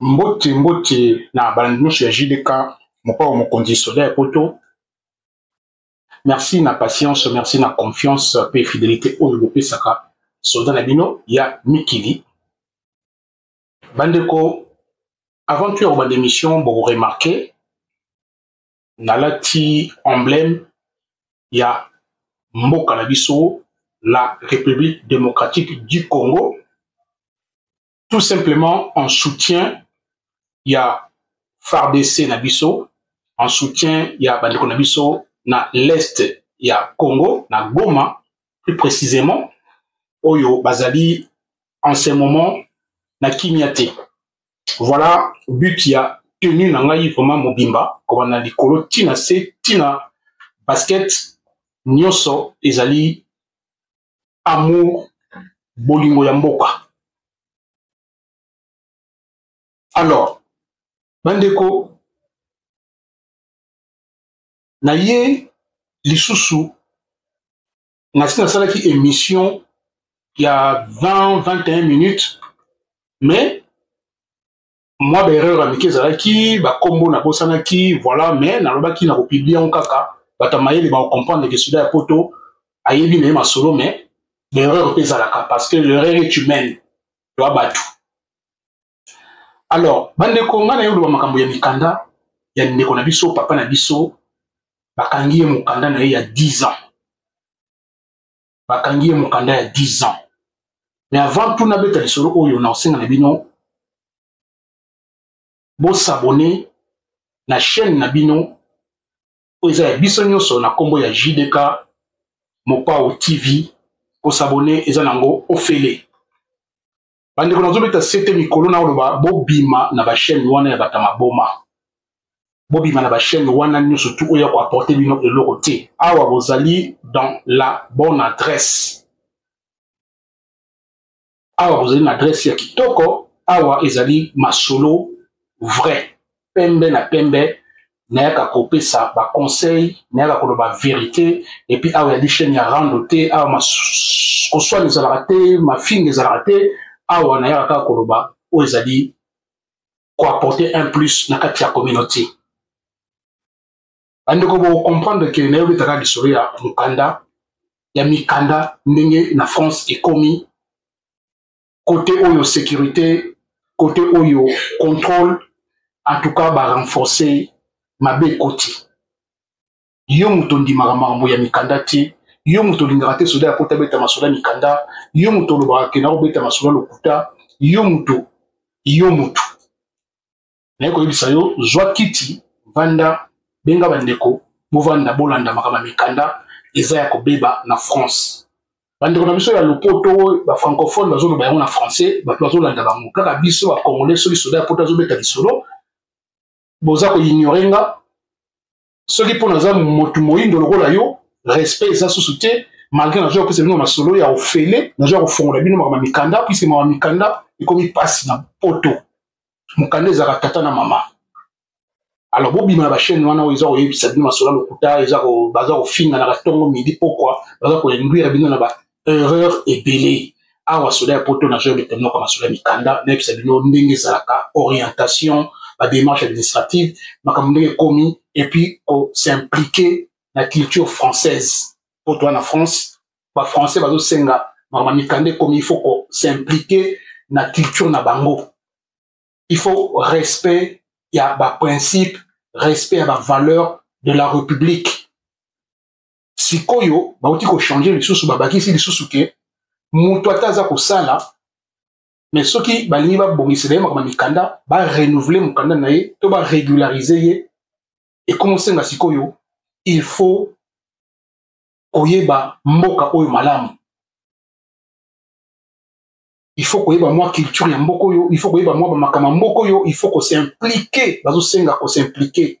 mbote mbote na balandi nyonso ya jdk mokao mokonzi soda ya poto merci na patience merci na confiance mpe fidelité oyo bopesaka soda na bino ya mikili bandeko avant toya kobanda émission bokoremarke nalati emblème ya mboka na biso la République démocratique du Congo tout simplement en soutien ya FARDC na biso en soutien ya bandeko na biso na l'est ya Congo na Goma plus précisément oyo bazali en ce moment na kimia te voilà but ya tenue na ngai vraiment mobimba kobanda likolo tina se tina basket nyonso ezali amour bolingo ya mboka alors bandeko na ye lisusu nasi nasalaki émission ya 20 21 minutes mais mwa baerreur ya mike ezalaki bakombo nabosanaki voilà mais nalobaki na kopiblia yango kaka bato ya mayele bakokomprendre ke soda ya poto ayebi na ye masolo mais baerreur mpe ezalaka parce que l'erreur est humaine toa bato alors bandeko ngai naye oloba makambo ya mikanda ya ndeko na biso papa na biso bakangi ye mokanda na ye ya 10 ans bakangi ye mokanda ya 10 ans mais avant tout nabeta lisolo oyo na osenga na bino bosabone na chaîne na bino oyo eza ya biso nyonso na nkombo ya jdk mopao tv kosabone eza nango ofele bandeko nazobeta sete mikolo na oloba bobima na bachaine wana ya bata maboma bobima na bachaine wana nyonso tu oyo ya koaporte bino eloko te awa bozali dans la bonne adresse awa bozali na adresse ya kitoko awa ezali masolo vrai pembe na pembe nayaka kopesa baconseil nayaka koloba verité epuis awa yadi chaine ya rando te awa koswana ezalaka te mafinga ezalaka te awa nayaka kaka koloba oyo ezali koapporte un plus na kati ya communauté bandeko bocomprendre ke nayobetaka lisolo ya mokanda ya mikanda ndenge na france ekomi kote oyo securite kote oyo contrôle en tout cas barenforce mabe ekoti yo moto ondimaka makambo ya mikanda te yo moto olingaka te soda ya kota beta masoda mikanda yo moto olobaka ke nakobeta masoda lokuta yo moto yo moto naye koyebisa yo zwa kiti vanda benga bandeko bovanda bolanda makambo ya mikanda eza ya kobeba na france bandeko na biso ya lopoto bafrancophone bazoloba yango na français bato bazolanda bango kaka biso bacongolais soki soda ya poto azobeta lisolo boza koignore nga soki mpo naza motu moyindo lokola yo respect eza susu te malgré nazoya kopesa bino masolo ya ofele nazoya kofongola bino makambo ya mikanda puiske makambo ya mikanda ekomi mpasi na poto mokanda ezalaka tata na mama alors bobima na bachaine wana oyo eza koyebisa bino masolo ya lokuta eza baza kofinganaka ntongo midi pokwa baza koinduire bino na erreur ebele awa soda ya poto na job etemnoka basoda mikanda nayebisa bino ndenge ezalaka orientation bademarche administrative makambo ndenge ekomi epuis kosimplike na culture française mpo toa na france bafrançais bazosenga makambo ya mikanda ekomi il faut kosimplike na culture na bango il faut respect ya baprincipe respect ya bavaleur de la république sikoyo bauti kochange lisusu babakisi lisusu ke moto ata aza kosala me soki balingi babongisela ye makambo ya mikanda barenouvele mokanda na ye to baregularize ye ekomosenga sikoyo il faut koyeba mboka oyo malamu il faut koyeba mwa culture ya mboka oyo il faut koyeba mwa bamakambo ya mboka oyo il faut kosimplike bazosenga kosimplike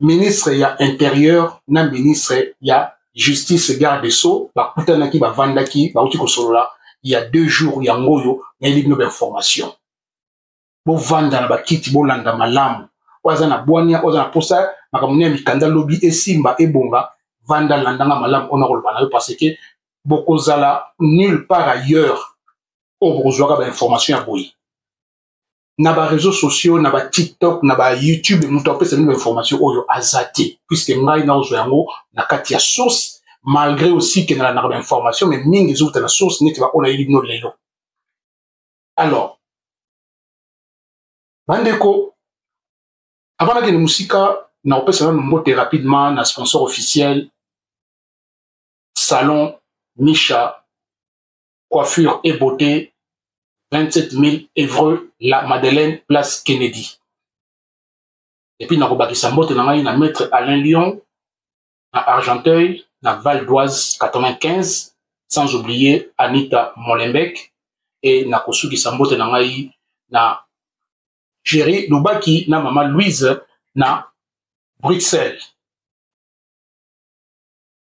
ministre ya interieur na ministre ya justice garde de sceaux bakutanaki bavandaki bauti kosolola ya deux jours yango oyo nayebi bino bainformation bovanda na bakiti bolanda malamu oyo aza na bwania oyo aza na mposa makambo nini ya mikanda lobi esimba ebonga vanda landanga malamu oyo nakoloba na yo parce que bokozala nulle part ailleurs oyo bokozwaka bainformation ya boye na ba réseaux sociaux na ba tiktok na ba youtube moto apesa bino information oyo aza te puiske ngai naozwa yango na kati ya source malgré aussi ke nalandaka ba information mais mingi ezowuta na source neti baoyo nayebi bino lelo alors bandeko avant nakende mosika nakopesa nano mbote rapidement na sponsor officiel salon misha coiffure et beauté 27 000 evreux la madeleine place kennedy epuis nakobakisa mbote na ngai na maître alain lion na argenteuil na val d'oise 95 sans oublier anita molenbek e nakosukisa mbote na ngai na jeri lubaki na mama louise na bruxelles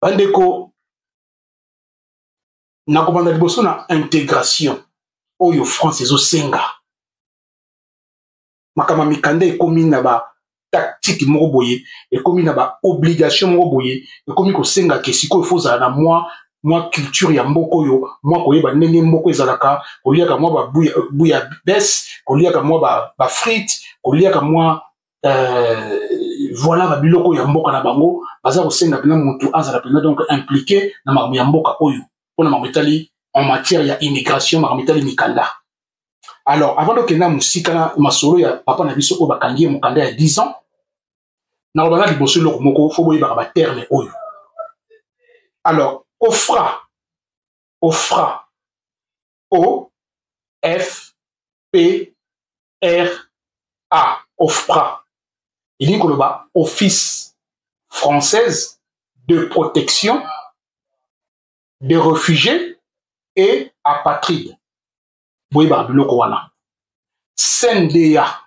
bandeko nakobanda liboso na integration oyo france ezosenga makambo ya mikanda ekomi na ba tactique moko boye ekomi na ba obligation moko boye ekomi kosenga ke sikoyo fo ozala na mwa mwa culture ya mboka oyo mwa koyeba ndenge mboka ezalaka koliaka mwa babuya bes koliaka mwa bafrite koliaka mwa euh, voilà ba biloko ya mboka na bango baza kosenga mpena motu azala mpena donc impliqué na makambo ya mboka oyo mpona makambo etali en matière ya immigration makambo etali mikanda alors avant tokenda mosika na masolo ya papa na biso oyo bakangi ye mokanda ya 10 ans nakoloba na liboso eloko moko fo boyebaka baterme oyo alors ofra ofra o f p OFRA, OFPRA, elingi koloba Office française de protection des réfugiés et apatrides. Boyeba biloko wana. CNDA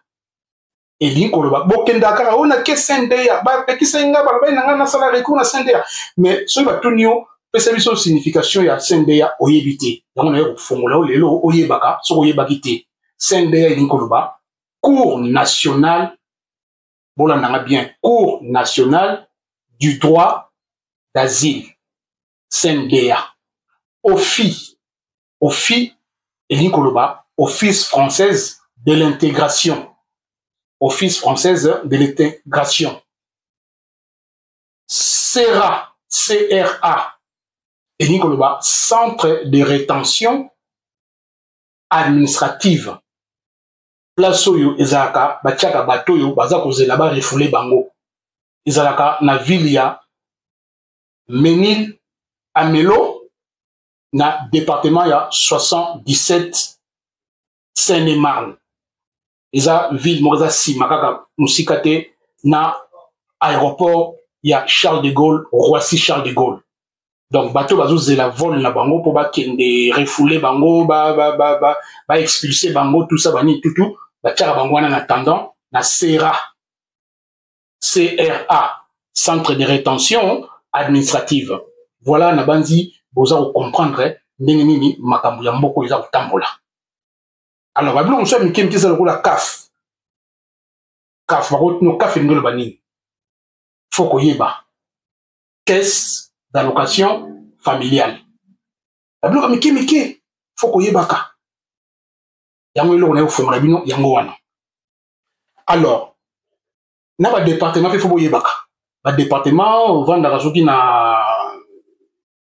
elingi koloba bokendaka kaka oyo nake CNDA bapekisaki ngai balobaki na ngai nasala recours na CNDA mais soki batuni yo pesa biso signification ya CNDA oyebi te yango naye kofongola yo lelo oyebaka soki oyebaki te cnda elingi koloba cour national bolanda nga bien cour national du droit d'asile cnda ofi ofi elingi koloba office française de l'intégration office française de l'intégration sera cra elingi koloba centre de rétention administrative place oyo ezalaka batiaka bato oyo baza kozela barefule bango ezalaka na ville ya menil amelo na departement ya 77 seine marne eza ville moko eza nsima kaka mosika te na aéroport ya charles de gaulle roissy charles de gaulle donc bato bazozela vol na bango mpo bakende refoule bango baexpulse ba, ba, ba, ba bango tout ça banini tutu batyaka bango wana na tendant na sera cra centre de rétention administrative voilà nabanzi boza kocomprendre ndenge nini makambo ya mboko eza kotambola alors babilo mosusu ya mike mike eza lokola kaf kaf bakotino kaf elingi oloba nini fo koyeba caisse d'allocation familiale babiloko mike mike fo koyebaka yango eloko naye kofongola bino yango wana alors na badepartement mpe fo boyebaka badepartement ovandaka soki na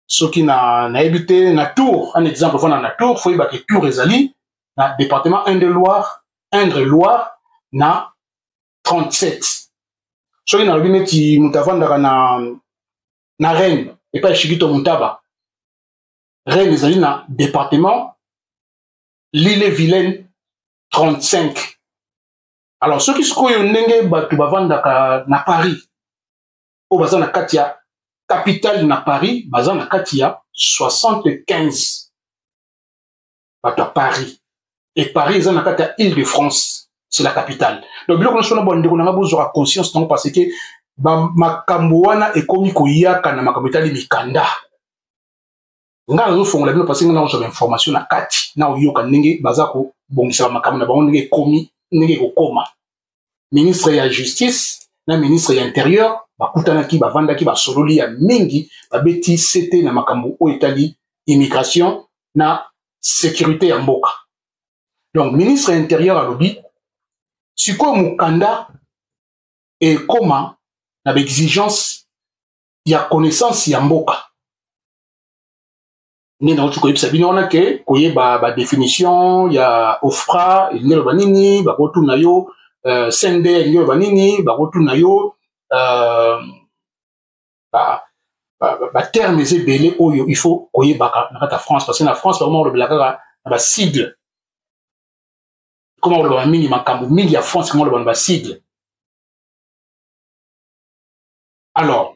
soki na nayebi te na tour un exemple fana na tour fo yebake tour ezali na département un de loire indre loire na 37 soki nalobi neti moto avandaka na na reine epai shikito montaba reine ezali na département lile vilaine 35 alors soki sikoyo ndenge bato bavandaka na paris oyo baza na kati ya capitale na paris baza na kati ya 75 bato ya paris e paris eza na kati ya ile de france c'est la capitale donc biloko nyonso wana bandeko na ngai bozwaka conscience nango parce que makambo wana ekomi koyaka na makambo etali mikanda nga nazofongola bino parce que nga nakozwa bainformation na kati na oyoka ndenge baza kobongisaka makambo na bango ndenge ekomi ndenge ekokoma ministre ya justice na ministre ya interieur bakutanaki bavandaki basololi ya mingi babeti sete na makambo oyo etali immigration na securite ya mboka donc ministre ya interieur alobi sikoyo mokanda ekoma na baexigence ya connaissance ya mboka nde nauti koyebisa bino wana ke koyeba badefinition ya ofra elingi eloba nini bakotuna yo uh, sende elingi eloba nini bakotuna yo uh, baterme eza ebele oyo il faut koyebaka na kati ya france parce que na france bakoma kolobela kaka na basigle koma kolobaka mingi makambo mingi ya france koma kolobaka na basigle alors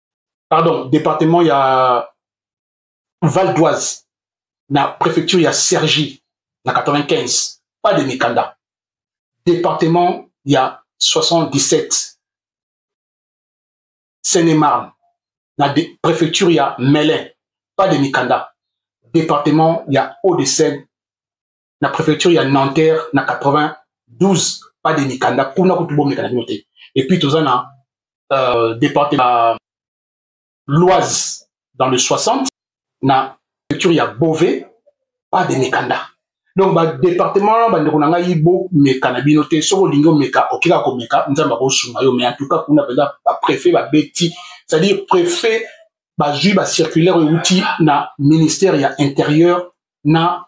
pardon département ya val d'oise na préfecture ya sergi na 95 pas de mikanda département ya 77 seine-et-marne na préfecture ya melin pas de mikanda département ya haut de seine na préfecture ya Nanterre na 92 pas de mikanda kuna kutu bomeka na bino te et puis toza na euh, département Loise dans le 60 na préfecture ya Beauvais pas de mikanda donc badepartement bandeko na ngai bomeka na bino te soki olingi omeka oke kaka komeka nzambe akosunga yo mais en tout cas kuna mpenza bapréfet babeti c'est-à-dire préfet bazwi bacirculaire euti na ministère ya intérieur na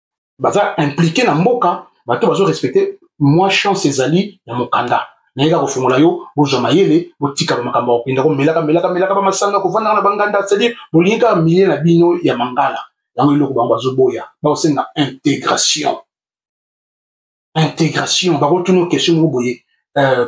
baza impliqué na mboka bato bazo respecte mwa chance ezali ya mokanda nayeka kofungola yo bozwa mayele botika bamakambo ya kokenda komelaka melaka melaka bamasanga kovandaka na banganda cetadire bolingi kaka milie na bino ya mangala yango eloko bango bazoboya bakosenga intégration intégration bakotuna question moko boye euh,